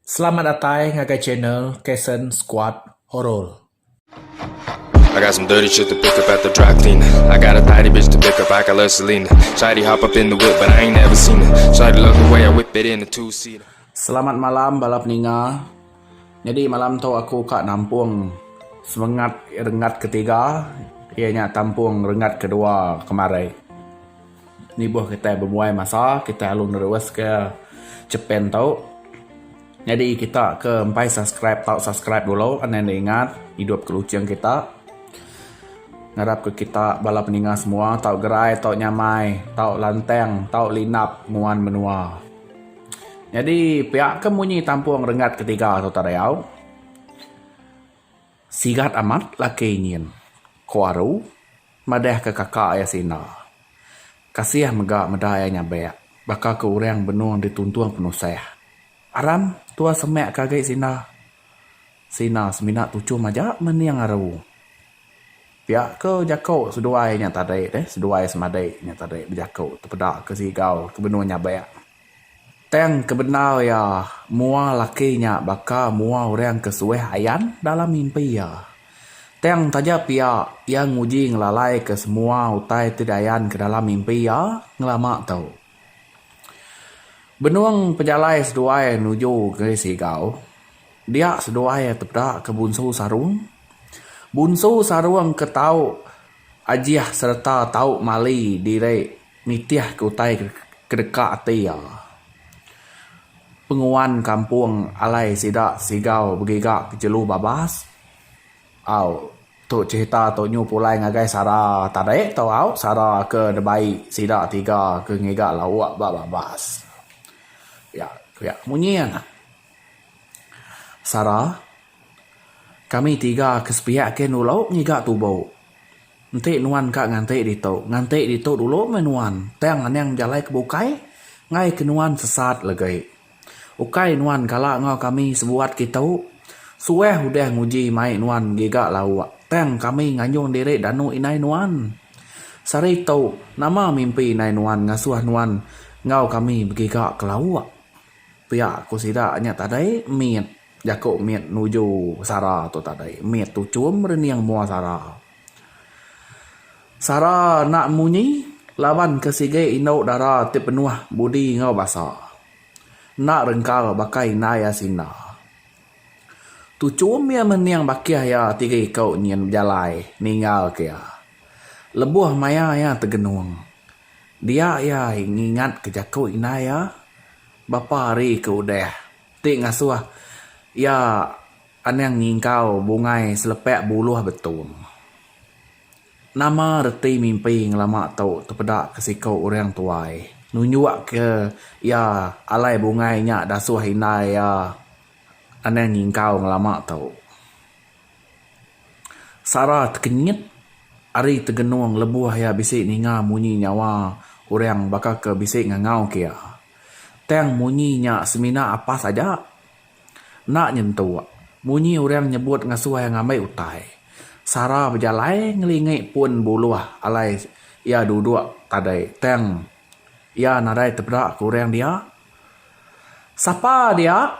Selamat datai ngagai channel Kason Squad Horror. I got some dirty shit to pick up at the dry cleaner I got a tidy bitch to pick up, I got love Selena Shawty hop up in the whip but I ain't never seen her Shawty love the way I whip it in a two seater Selamat malam bala peninga. Nyadi malam tu aku ka nampung semengat renggat ketiga iya nya tampung renggat kedua kemari. Nibuh kitai bemuai masa kitai alu neruska chepen tu nyadi kita ke empai subscribe tau subscribe dulu anang enda ingat idup ke lucheng kita ngarap ke kita bala peninga semua tau gerai tau nyamai tau lantang tau linap nguan menua nyadi pia ke munyi tampung renggat ke tiga tu tadayau sigat amat laki nyin ko aru. Madahka kaka iya Sinda. Kasih mega meda iya nyabak, baka ke orang benung dituntung penusah. Aram, tua semak ke agi Sinda. Sinda semina tuchum aja mening aru. Pia ke jaku seduai nya tadi, seduai semadi nya tadi bejaku tepeda ke Sigau ke benung nyabak. Tang ke bendar iya, mua laki nya baka mua orang ke suah ayan dalam mimpi iya. Tang taja pia, iya nguji ngelalaika semua utai ti diayanka dalam mimpi iya ngelama tu. Benung pejalai seduai nuju negeri Sigau, dia seduai tepeda ke Bunsu Sarung. Bunsu Sarung ke tau ajih sereta tau mali diri. Nitihka utai ke deka ati iya. Penguan kampung alai sida Sigau begiga ke jelu babas. Au tu cerita tu nyu pulai ngagai sara tadi tu au sara ke dibai sida tiga ke ngiga lauk ba babas. Pia pia munyi iya nah. Sara. Kami tiga ke sepiak ke nulok ngiga tubo. Enti nuan ka nganti ditu, nganti ditu dulu meh nuan tang anang bejalai ke bukai enggai ke nuan sesat legi. Ukai nuan kala enggau kami sebuat kitu, suah udah nguji mai nuan ngiga lauk tang kami nganjung diri danu indai nuan. Sehari tu, nama mimpi indai nuan ngasuh nuan enggau kami begiga ke lauk? pia ku sida nya tadi mit. Jaku mit nuju sara tu tadi mit tu chum rening mua sara. Sara enda munyi laban ke sigi indu dara ti penuh budi enggau basa. Enda rengkal baka indai asinda. Tu chum iya mening bakih iya tiga iku nyin bejalai ninggalka iya. Lebuh maya iya tegenung, dia iya ngingatka jaku indai iya, Bapa ari ke udah. Ti ngasuh iya anang nyingkau bungai selepak buluh betung. Nama reti mimpi ngelama tu tepeda ke siku orang tuai nunjuk ke iya alai bungai nya dasuh indai iya anang nyingkau ngelama tu. Sara tekenyit ari tegenung lebuh iya bisi ninga munyi nyawa orang baka ke bisi ngangau ke iya. Tang munyi nya semina apas aja. Enda nyentu munyi orang nyebut ngasuh ngambi utai. Sara bejalai ngelingi pun buluh alai iya duduk tadi tang iya nadai tepeda ke orang dia. Sapa dia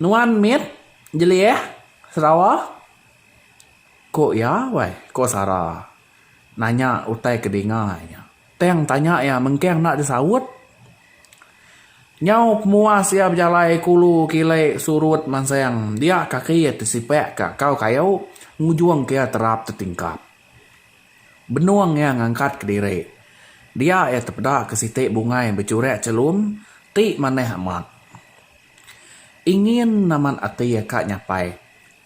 nuan mit jelih Sarawak ah? Ku iya wai, ku Sara nanya utai ke dinga iya. Tang tanya iya mengkang enda disaut. Nyau pemuas iya bejalai kulu kili surut mansang dia kaki tesipak ka kau kayu ngujung ke iya terap tetingkap. Benung iya ngangkat ke diri. Dia iya tepeda ke siti bungai bechurak chelum ti manah amat. Ingin amat ati iya ka nyapai.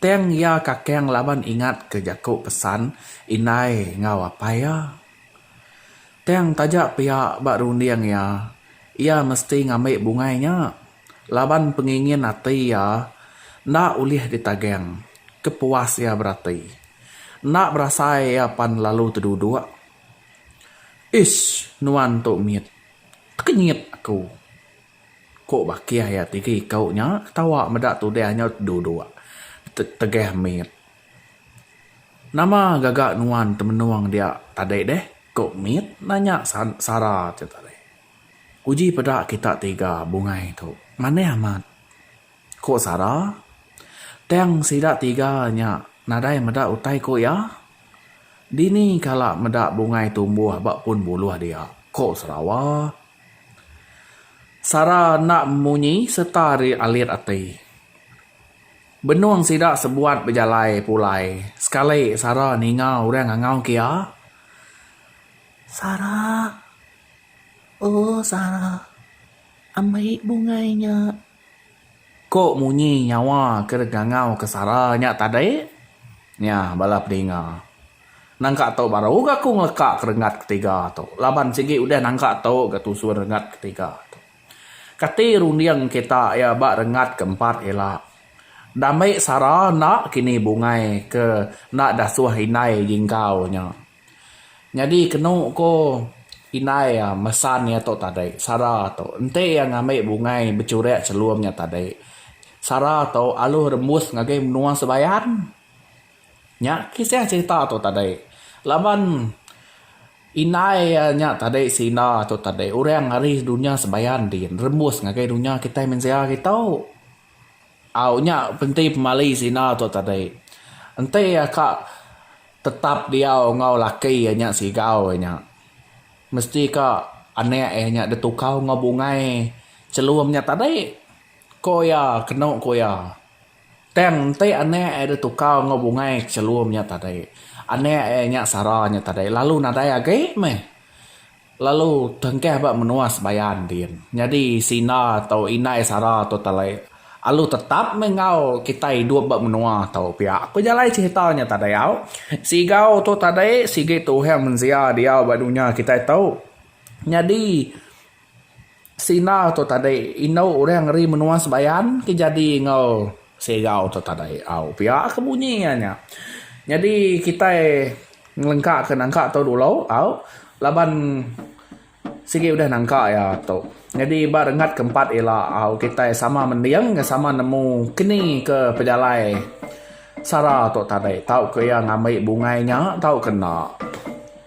Tang iya kakang laban ingat ke jaku pesan indai enggau apai iya. Tang taja pia ba runding iya, iya mesti ngambi bungai nya laban pengingin ati iya enda ulih ditagang ke puas iya berati. Enda berasai iya pan lalu teduduk. Ish nuan tu mit. Tekenyit aku. Ku bakih iya tiga iku nya ketawa meda tudah nya duduk tegah mit. Nama gaga nuan temenung dia tadi deh? Ku mit nanya Sara tu tadi. Uji peda kita tiga bungai tu manih amat. Ku Sara tang sida tiga nya nadai meda utai ku iya. Dini kala meda bungai tumbuh ba pun buluh dia? Ku Sarawa. Sara enda munyi sereta arit ati. Benung sida sebuat bejalai pulai sekali Sara ninga orang ngangau ke iya, Sara, oh Sara, ambi bungai nya. Ko munyi nyawa ke deka ngangau ke Sara nya tadi. Nya bala pedinga. Nangka tu baru ga aku ngeleka ke renggat ketiga tu laban sigi udah nangka tu ga tusun renggat ketiga tu. Kati runding kita iya ba rengat ke empat ila. Ndambi sara enda kini bungai ke enda dasuh indai jinggau nya. Nyadi kenu ko indai iya mesan iya tu tadi sara tu enti iya ngambi bungai bechurik chelum nya tadi sara tu alu rembus ngagai menua Sebayan. Nya kisah cerita tu tadi. Laban indai iya nya tadi senda tu tadi orang ari dunya sebayan din rembus ngagai dunya kitai mensia hari tu. Au nya enti pemali senda tu tadi. Enti iya ka tetap diau enggau laki iya nya sigau iya nya mesti ka anak iya nya ditukar enggau bungai chelum nya tadi. Ku iya kenu ku iya. Tang enti anak iya ditukar enggau bungai ke chelum nya tadi, anak iya nya sara nya tadi lalu nadai agi meh. Lalu tengkah ba menua sebayan din. Nyadi sina tu indai sara tu tali alu tetap meh enggau kitai idup ba menua tu pia. Ku jalai cherita nya tadi au, sigau tu tadi sigi tuhang mensia diau ba dunya kitai tu. Nyadi. Sina tu tadi indu orang ngeri menua Sebayan ke jadi enggau Segau tu tadi. Au pia ke bunyi iya nya. Nyadi kitai ngelengka ke nangka tu dulu au laban sigi udah nangka iya tu. Nyadi ba renggat ke empat ila au kitai sama mending enggau sama nemu keni ke pejalai sara tu tadi tauka iya ngambi bungai nya tauka enda.